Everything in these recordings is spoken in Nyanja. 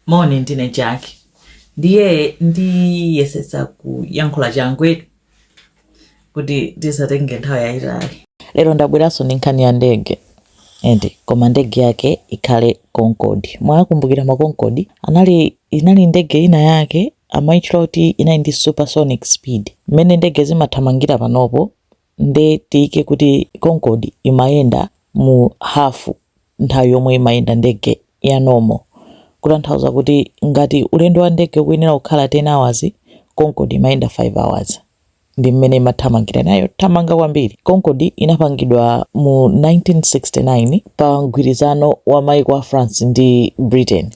Moni, ndine Jack. Ndiye ndiyesetsa kuyankhula changu kuti tisatenge nthawi yayitali. Lero ndabweranso ndi nkhani ya ndege ende koma ndege yake ikhale Concorde. Mwakumbukira ma Concorde anali inali ndege ina yake amaitchula kuti inali ndi supersonic speed. Mmene ndege zimathamangira panopo nde tiike kuti Concorde imayenda mu half nthawi yomwe imayenda ndege ya normal, kutanthauza kuti ngati ulendo wa ndege ukuyenera kukhala 10 hours, Concorde imayenda 5 hours. Ndi mmene imathamangira inali yothamanga kwambiri. Concorde inapangidwa mu 1969 pa mgwirizano wa maiko a France ndi Britain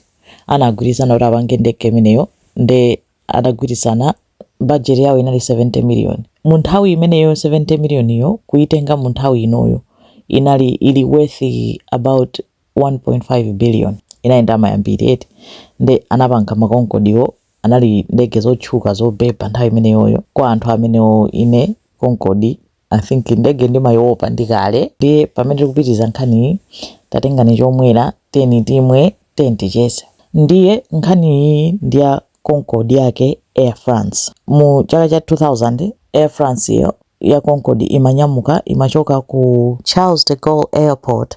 anagwirizana kuti apange ndege imeneyo nde. anagwirizana budget yawo inali 70 million munthawi imeneyo 70 million yo kuitenga munthawi inoyo inali ili worth about 1.5 billion inali ndalama yambiri eti nde anapanga makonkodiwo anali ndege zotchuka zobeba nthawi imeneyoyo kwa anthu amenewo ine konkodi I think ndege ndimayiopa ndi kale ndiye pamene tikupitiriza nkhaniyi tatengani chomwera tiyeni timwe tiyeni ticheze ndiye nkhaniyi ndi ya Concorde yake air france mu chaka cha 2000 air france yo ya Concorde imanyamuka imachoka ku charles de gaulle airport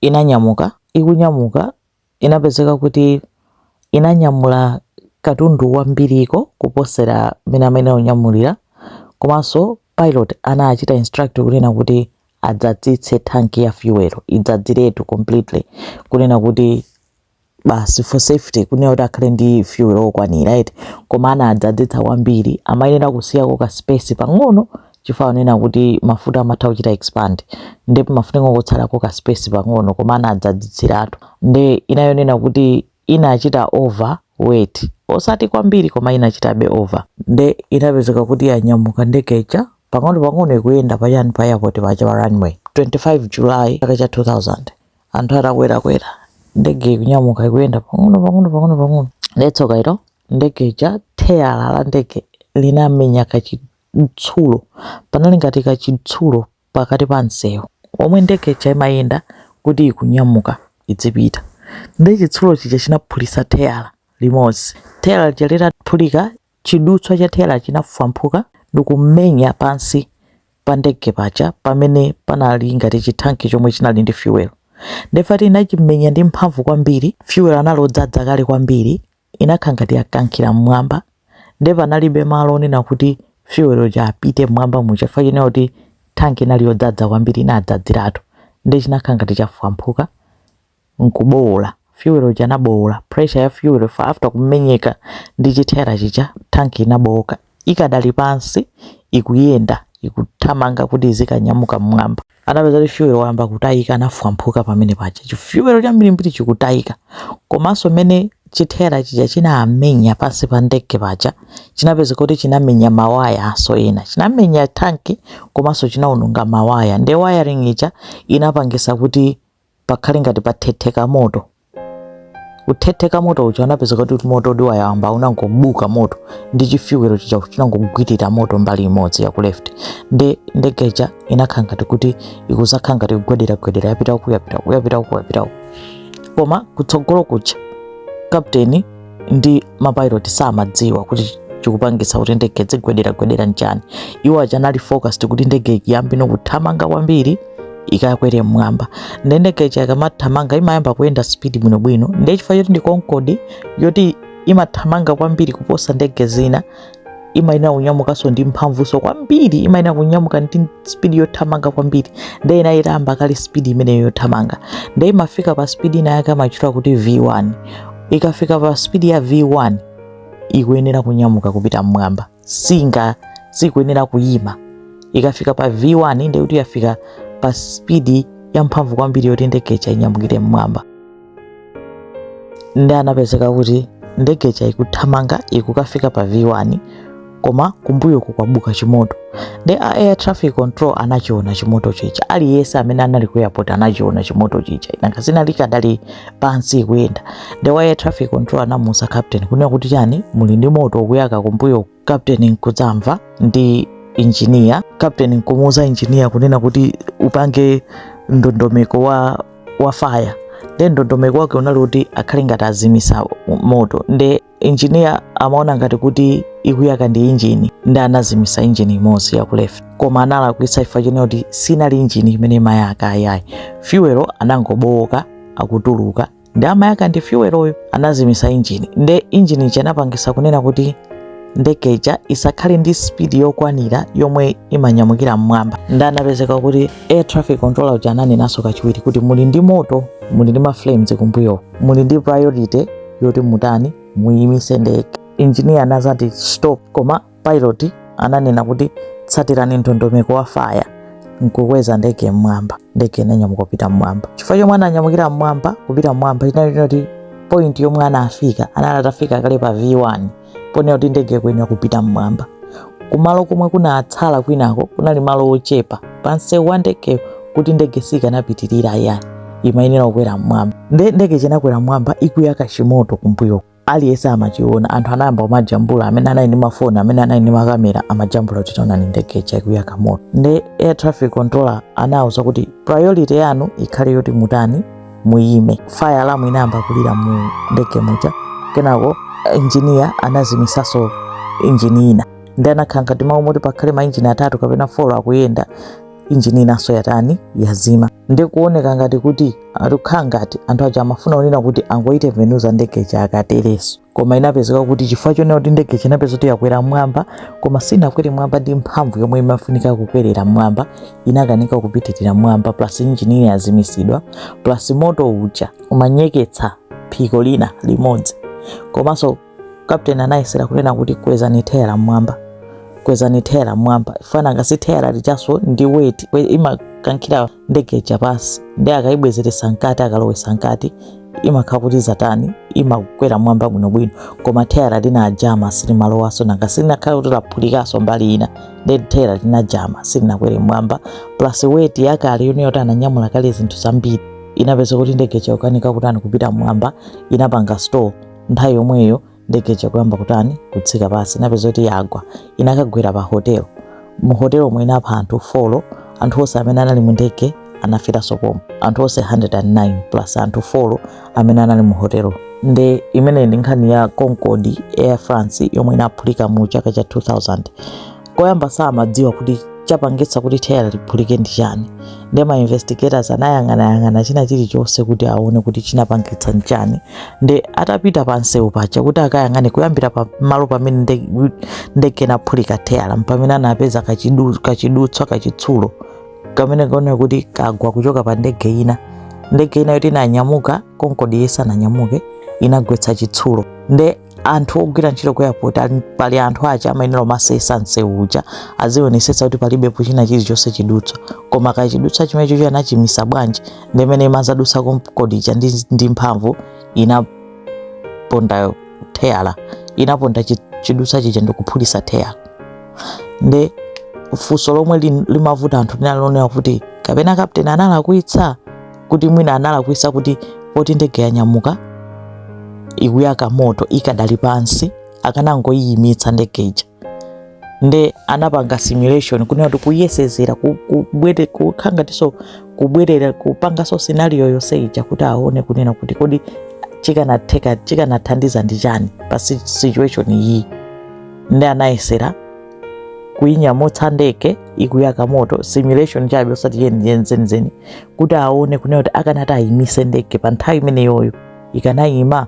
inanyamuka. Ikunyamuka, inapezeka kuti inanyamula katundu wambiriko kuposera mmene amayenera kunyamulira. Komanso pilot anachita instruct kunena kuti adzadzitse tank ya fuel, idzadziretu completely kunena kuti basi for safety kunena kuti akhale ndi fuel okwanira eti koma anadzadzitsa kwambiri amayenera kusiyako ka space pang'ono chifukwa chonena kuti mafuta amatha kuchita expand nde pamafunika kungotsalako ka space pang'ono koma anadzadzitsiratu nde inayonena kuti inachita over weight osati kwambiri koma inachitabe over nde inapezeka kuti yanyamuka ndege ija pang'ono pang'ono ikuyenda pachani pa airport paja pa runway 25 july chaka cha 2000 anthu atakwerakwera ndege ikunyamuka ikuyenda pang'ono pang'ono pang'ono pang'ono ndetsoka ilo ndege ija theyala la ndege linamenya kachitsulo panali ngati kachitsulo pakati pa msewu omwe ndege ija imayenda kuti ikunyamuka idzipita nde chitsulo chija chinaphulisa theyala limodzi theyala lija litaphulika Chidutswa cha theyala chinafwamphuka ndikumenya pansi pa ndege paja pamene panali ngati chithanki chomwe chinali ndi fuel. Nde fact yoti chinamenya ndi mphamvu kwambiri, fuel anali odzadza kale kwambiri, inakhala ngati yakankhira mmwamba nde panalibe malo onena kuti fuel uja apite mmwamba muja chifukwa chonena kuti thanki inali yodzadza kwambiri inadzadziratu nde chinakhala ngati chafwamphuka. nkubowola fuel uja anabowola pressure ya fuel after kumenyeka ndi chitayala chija tank inabowoka ikadali pansi ikuyenda ikuthamanga kuti izikanyamuka mmwamba anapeza kuti fuel wayamba kutayika anafwamphuka pamene paja chifuel chambirimbiri chikutayika komanso mmene chitayala chija chinamenya pansi pa ndege paja chinapeza kuti chinamenya mawaya aso ena chinamenya tanki komanso chinawononga mawaya nde wiring ija inapangisa kuti pakhale ngati pathetheka moto kuthetheka moto uja anapezeka kuti moto uja wayamba unangobuka moto ndi chifyuwelo chija chinangogwirira moto mbali imodzi ya ku left nde ndege ija inakhala ngati kuti ikuzakhala ngati kugwederagwedera yapita uku yapita uku yapita uku yapita uku koma kutsogolo kuja kapteni ndi mapilot samadziwa kuti chikupangitsa kuti ndege idzigwederagwedera nchani iwo aja anali focused kuti ndege ikiyambe ndi kuthamanga kwambiri ikakwere mmwamba nde ndege ija ikamathamanga imayamba kuyenda speed bwinobwino nde chifukwa choti ndi concorde yoti imathamanga kwambiri kuposa ndege zina imayenera kunyamukanso ndi mphamvunso kwambiri imayenera kunyamuka ndi spidi yothamanga kwambiri nde inali itayamba kale spidi imeneyo yothamanga nde imafika pa spidi ina yake amatchula kuti v1 ikafika pa spidi ya v1 ikuyenera kunyamuka kupita mmwamba singa sikuyenera kuyima ikafika pa v1 nde kuti yafika pa spidi yamphamvu kwambiri yoti ndege ija inyamukire mmwamba nde anapezeka kuti ndege ija ikuthamanga ikukafika pa v1 koma kumbuyo kukubuka chimoto nde a air traffic control anachiona chimoto chija aliyense amene anali ku airport anachiona chimoto chija nanga sinali ikadali pansi ikuyenda nde wa air traffic control anamuuza captain kunena kuti chani muli ndi moto ukuyaka kumbuyo kapteni nkudzamva ndi injiniya kapteni nkumuuza injiniya kunena kuti upange ndondomeko wa, wa faya nde ndondomeko wake unali kuti akhale ngati azimisa moto nde injiniya amaona ngati kuti ikuyaka ndi injini nde anazimisa injini imodzi ya ku left koma analakwitsa chifukwa chonena kuti sinali injini imene imayaka ayayi fyuwelo anangobowoka akutuluka nde amayaka ndi fuel iyo anazimisa injini nde injini ija inapangisa kunena kuti ndege ija isakhale ndi speed yokwanira yomwe imanyamukira mmwamba nde anapezeka kuti air traffic controller uja ananenanso kachiwiri kuti muli ndi moto muli ndi maflames kumbuyo muli ndi priority yoti mutani muyimise ndege engineer anazati stop koma Pilot ananena kuti tsatirani ndondomeko ya faya nkukweza ndege mmwamba ndege inanyamuka kupita mmwamba chifukwa chomwe ananyamukira mmwamba kupita mmwamba chinali choti point yomwe anafika anali atafika kale pa v1 ponena kuti ndege kuyenera kupita mmwamba kumalo komwe kunatsala kwinako kunali malo ochepa pansewu wa ndege kuti ndege sikanapitirira ya imayenera kukwera mmwamba nde ndege ija inakwera mmwamba ikuyaka chimoto kumbuyo aliyense amachiona anthu anayamba kumajambula amene anali ndi mafoni amene anali ndi makamera amajambula kuti taonani ndege ija ikuyaka moto nde air traffic controller anawuza kuti priority yanu ikhale yoti mutani muyime fire alarm inayamba kulira mu ndege muja kenako engineer anazimisaso injini ina nde inakhala ngati m'malo moti pakhale mainjini atatu kapena folo akuyenda injini inanso yatani yazima nde kuoneka ngati kuti zikukhala ngati anthu aja amafuna kunena kuti angoitembenuza ndege ija akatereso koma inapezeka kuti chifukwa chonena kuti ndege ija inapezeka kuti yakwera mwamba koma sinakwere mwamba ndi mphamvu yomwe imafunika kukwerera mwamba inakanika kupitirira mwamba plus injini ina yazimisidwa plus moto uja umanyeketsa phiko lina limodzi komanso kapteni anayesera kunena kuti kwezani thayala mmwamba kwezani thayala mmwamba chifukwa nanga si thayala lijaso ndi weight imakankhira ndege ija pansi nde akalibwezeretsa mkati akalilowesa mkati imakhala kuti zatani imakwera mmwamba bwinobwino koma thayala linajama silimalowaso nanga si linakhala kuti laphulikaso mbali ina nde thayala linajama silinakwere mmwamba plus weight yakale yomwe yoti ananyamula kale zinthu zambiri inapezeka kuti ndege ija yakanika kutani kupita mmwamba inapanga stall nthawi yomweyo ndege ija kuyamba kutani kutsika pansi inapezeka kuti yagwa inakagwera pa hotel mu hotel omwe inapha anthu folo anthu onse amene anali mu ndege anaferanso pomwe anthu onse 109 plus anthu folo amene anali mu hotelo nde imeneyi ndi nkhani ya concorde air france yomwe inaphulika mu chaka cha 2000 koyamba samadziwa kuti chapangitsa kuti theyala liphulike ndi chani nde ma investigators anayang'anayang'ana china chilichonse kuti aone kuti chinapangitsa nchani nde atapita pa msewu paja kuti akayang'ane kuyambira pa malo pamene nde- ndege inaphulika theyala mpamene anapeza kachidu- kachidutswa kachitsulo kamene kaoneka kuti kagwa kuchoka pa ndege ina ndege ina yoti inanyamuka konkodi isananyamuke inagwetsa chitsulo nde anthu ogwira ntchito ku airport ali- pali anthu aja amayenera kumasesa msewu uja azionesetsa kuti palibepo china chilichonse chidutswa koma kachidutswa chimenechocho anachimisa bwanji nde mmene imazadutsa konkodi ija ndi, ndi mphamvu inaponda theyala inaponda chi- chidutswa chija ndikuphulisa theyala nde funso lomwe lin- limavuta anthu linali lonena kuti kapena kapteni analakwitsa kuti mwina analakwisa kuti poti ndege yanyamuka ikuyaka moto ikadali pansi akanangoyiyimitsa ndege ija nde anapanga simulation kunena kuti kuyesezera kukhala ngatiso kubwerera kupangaso scenario yonse ija kuti aone kunena kuti kodi chikanatheka chikanathandiza ndi chani pa situation iyi nde anayesezera kuinyamutsa ndege ikuyaka moto simulation chabe osati yeniyeni zenizeni kuti aone kunena kuti akanati ayimise ndege pa nthawi imeneyoyo ikanayima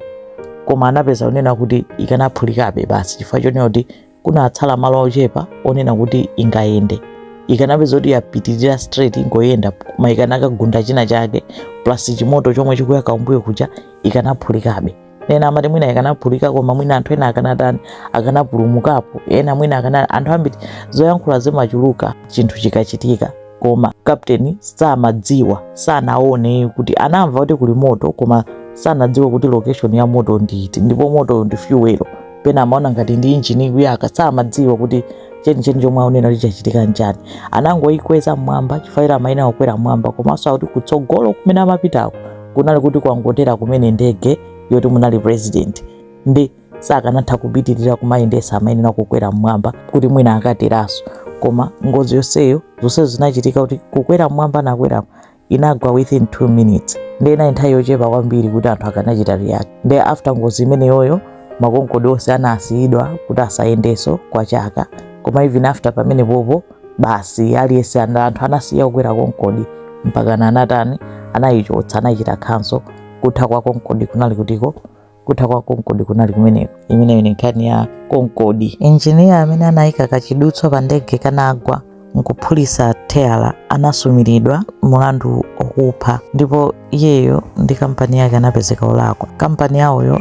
koma anapeza kunena kuti ikanaphulikabe basi chifukwa chonena kuti kunatsala malo ochepa onena kuti ingayende ikanapeza kuti yapitirira straight ikungoyenda koma ikanakagunda china chake plus chimoto chomwe chikuyaka kumbuyo kuja ikanaphulikabe ena amati mwina ikanaphulika koma mwina anthu ena akanatani akanapulumukapo ena mwina akana anthu ambiri zoyankhula zimachuluka chinthu chikachitika koma kapteni samadziwa sanaone kuti anamva kuti kuli moto koma sanadziwe kuti location ya moto ndi iti ndipo moto ndi fuel pena amaona ngati ndi injini ikuyaka samadziwa kuti chenicheni chomwe aonena kuti chachitika njani anangoyikweza mmwamba chifukwa ira amaina kukwera mmwamba komanso akuti kutsogolo kumene amapitako kunali kuti kwangotera kumene ndege yoti munali president ndi sakanatha kupitirira kumayendesa amayenera kukwera mmwamba kuti mwina akateraso koma ngozi yonseyo zonsezo zinachitika kuti kukwera mmwamba nakwerapo inagwa within 2 minutes nde inali nthawi yochepa kwambiri kuti anthu akanachita react nde after ngozi imeneyoyo makonkodi onse anasiyidwa kuti asayendeso kwa chaka koma even after pamene popo basi aliyense ana- anthu anasiya kukwera konkodi mpakana anatani anayichotsa anaichita cancel kutha kwa konkodi kunali kutiko kutha kwa konkodi kunali kumeneko imeneyo ni nkhani ya konkodi injiniya amene anayika kachidutswa pa ndege kanagwa nkuphulisa teyala anasumiridwa mulandu wokupha ndipo iyeyo ndi kampani yake anapezeka olakwa kampani yawoyo